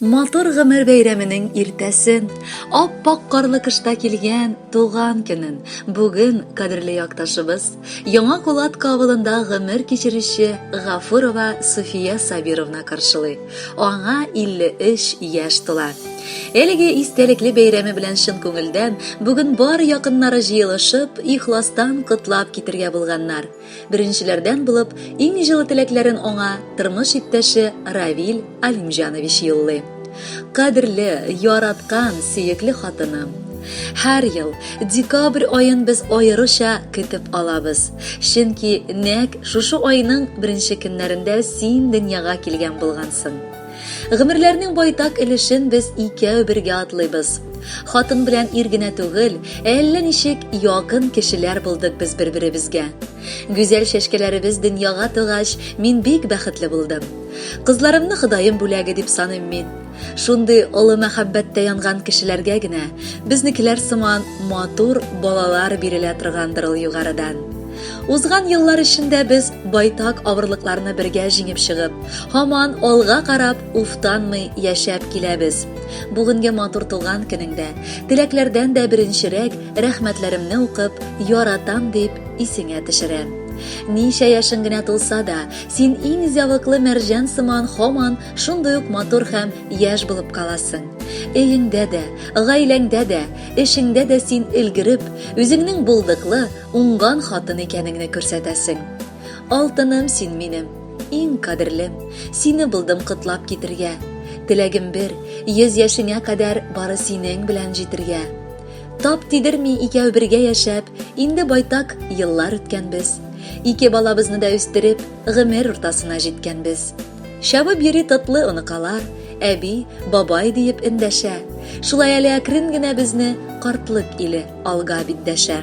Матур гомер бәйрәменең иртәсен, ап-ак карлы кышта килгән туган көнен бүген кадерле якташыбыз, Яңа Кулатка авылында гомер кичерүче Гафурова Суфия Сабировна каршылый. Аңа 53 яшь тула. Әлеге истәлекле бәйрәме белән чын күңелдән бүген бар якыннары җыелышып, ихластан котлап китергә булганнар. Беренчеләрдән булып иң җылы теләкләрен аңа тормыш иптәше Равил Алимҗанович юллый. Кадерле, яраткан, сөекле хатыным! Һәр ел декабрь аен без аеруча көтеп алабыз, чөнки нәкъ шушы айның беренче көннәрендә син дөньяга килгән булгансың. Гомерләрнең байтак өлешен без икәү бергә атлыйбыз. Хатын белән ир генә түгел, ә әллә ничек якын кешеләр булдык без бер-беребезгә. Гүзәл чәчкәләребез дөньяга тугач, мин бик бәхетле булдым. Кызларымны Ходаем бүләге дип саныйм мин. Шундый олы мәхәббәттә янган кешеләргә генә безнекеләр сыман матур балалар бирелә торгандыр ул югарыдан. Узган еллар эчендә без байтак авырлыкларны бергә җиңеп чыгып, һаман алга карап, уфтанмый яшәп киләбез. Бүгенге матур туган көнеңдә, теләкләрдән дә беренчерәк рәхмәтләремне укып, яратам дип исеңә төшерәм. Ничә яшең генә тулса да, син иң зәвыклы мәрҗән сыман һаман шундый ук матур һәм яшь булып каласың. Өеңдә дә, гаиләңдә дә, эшеңдә дә син өлгереп, үзеңнең булдыклы, Уңган хатын икәнеңне күрсәтәсең. Алтыным син минем, иң кадерлем, сине булдым котлап китергә. Теләгем бер, йөз яшеңә кадәр бары синең белән җитергә. Тап тидерми икәү бергә яшәп, инде байтак еллар үткәнбез. Ике балабызны да үстереп, гомер уртасына җиткәнбез. Чабып йөри тотлы оныкалар, әби, бабай диеп эндәшә. Шулай әле әкрен генә безне картлык иле Алга бит дәшә.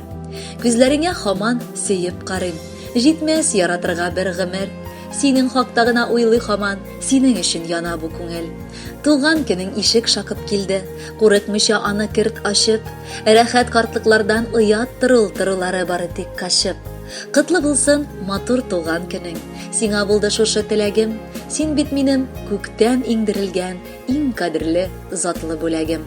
Күзләреңә хаман сөеп карыйм. Җитмәс яратырга бер гомер. Синең хакта гына уйлый хаман, синең өчен яна бу күңел. Туган көнең ишек шакып килде. Курыкмыйча аны керт ачып. Рәхәт картлыклардан оят торыл торылары бары тик качып. Котлы булсын матур туган көнең. Сиңа булды шушы теләгем. Син бит минем күктән иңдерелгән иң кадерле затлы бүләгем.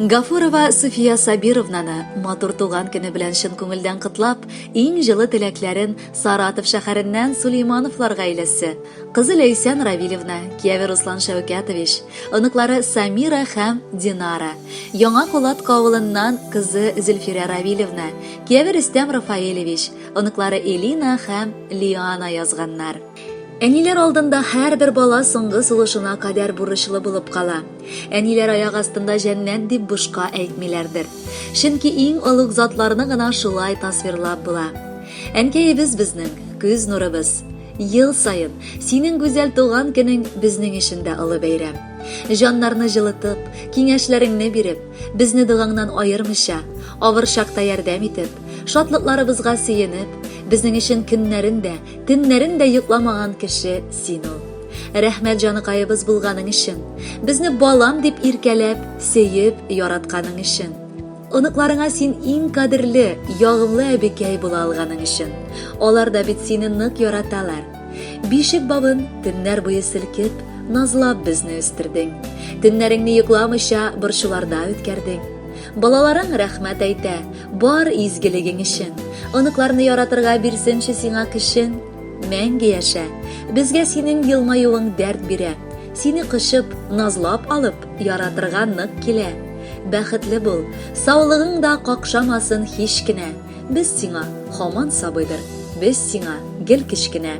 Гафурова Суфия Сабировнаны матур туган көне белән чын күңелдән котлап, иң җылы теләкләрен Саратов шәһәреннән Сулеймановлар гаиләсе, кызы Ләйсән Равилевна, кияве Руслан Шәүкәтович, оныклары Самира һәм Динара, Яңа Кулат кавылыннан кызы Зөлфирә Равилевна, кияве Рөстәм Рафаэлевич, оныклары Элина һәм Лиана язганнар. Әниләр алдында һәрбер бала соңгы сулышына кадәр бурычлы булып кала. Әниләр аяк астында җәннәт дип бушка әйтмиләрдер. Чөнки иң олуг затларны гына шулай тасвирлап була. Әнкәебез безнең, күз нурыбыз. Ел саен, синең гүзәл туган көнең безнең өчен дә олы бәйрәм. Җаннарны җылытып, киңәшләреңне биреп, безне догаңнан аермыйча, авыр чакта ярдәм итеп, шатлыкларыбызга сөенеп, безнең өчен көннәрен дә, Төннәрен дә йокламаган кеше син ул. Рәхмәт җаныкаебыз булганың өчен. Безне балам дип иркәләп, сөеп, яратканың өчен. Оныкларыңа син иң кадерле, ягымлы әбекәй була алганың өчен. Алар да бит сине нык яраталар. Бишек бабын төннәр буе селкеп, назлап безне үстердең. Төннәреңне йокламыйча борчуларда үткәрдең. Балаларың рәхмәт әйтә, Бар изгелегең өчен. Оныкларны яратырга бирсенче сиңа көчен. Мәңге яшә. Безгә синең елмаюың дәрт бирә. Сине кочып, назлап алып, яратырга нык килә. Бәхетле бул, саулыгың да какшамасын һич кенә. Без сиңа һаман сабыйдыр, без сиңа гел кечкенә.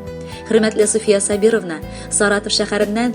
Хөрмәтле Суфия Сабировна, Саратов шәһәреннән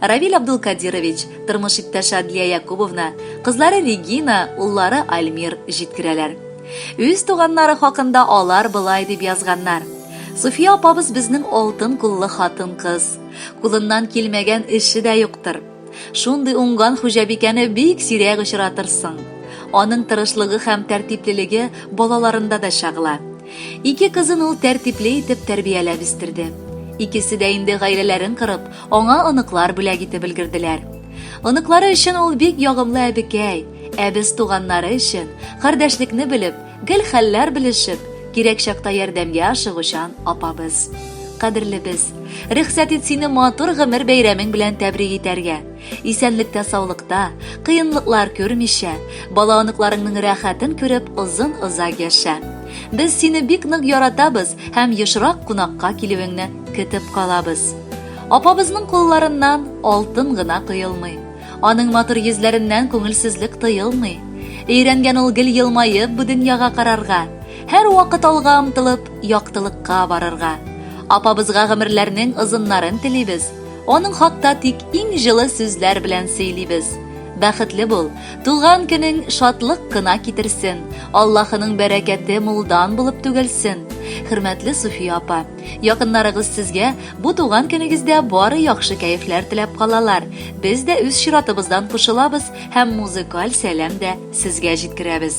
Равиль Абдулкадирович, тормыш иптәше Адлия Якубовна, кызлары Регина, уллары Альмир җиткерәләр. Үз туганнары хакында алар болай дип язганнар, Суфия апабыз безнең алтын куллы хатын-кыз. Кулыннан килмәгән эше дә юктыр. Шундый уңган хуҗабикәне бик сирәк очратырсың. Аның тырышлыгы һәм тәртиплелеге балаларында да чагыла. Ике кызын ул тәртипле итеп тәрбияләп үстерде. Икесе дә инде гаиләләрен корып, аңа оныклар бүләк итеп өлгерделәр. Оныклары өчен ул бик ягымлы әбекәй, ә без туганнары өчен, кардәшлекне белеп, гел хәлләр белешеп, кирәк чакта ярдәмгә ашыгучан апабыз. Кадерлебез, рөхсәт ит сине матур гомер бәйрәмең белән тәбрик итәргә. Исәнлектә саулыкта, кыенлыклар күрмичә, бала оныкларыңның рәхәтен күреп озын озак яшә. Без сине бик нык яратабыз һәм ешрак кунакка килүеңне көтеп калабыз. Апабызның кулларыннан алтын гына коелмый. Аның матур йөзләреннән күңелсезлек тоелмый. Өйрәнгән ул гел елмаеп бу дөньяга карарга, һәр вакыт алга омтылып, яктылыкка барырга. Апабызга гомерләрнең озыннарын телибез. Аның хакта тик иң җылы сүзләр белән сөйлибез. Бәхетле бул, тулган көнең шатлык кына китерсен, Аллаһының бәрәкәте мулдан булып түгелсен. Хөрмәтле Суфия апа, якыннарыгыз сезгә бу туган көнегездә бары яхшы кәефләр теләп калалар. Без дә үз чиратыбыздан кушылабыз һәм музыкаль сәлам дә сезгә җиткерәбез.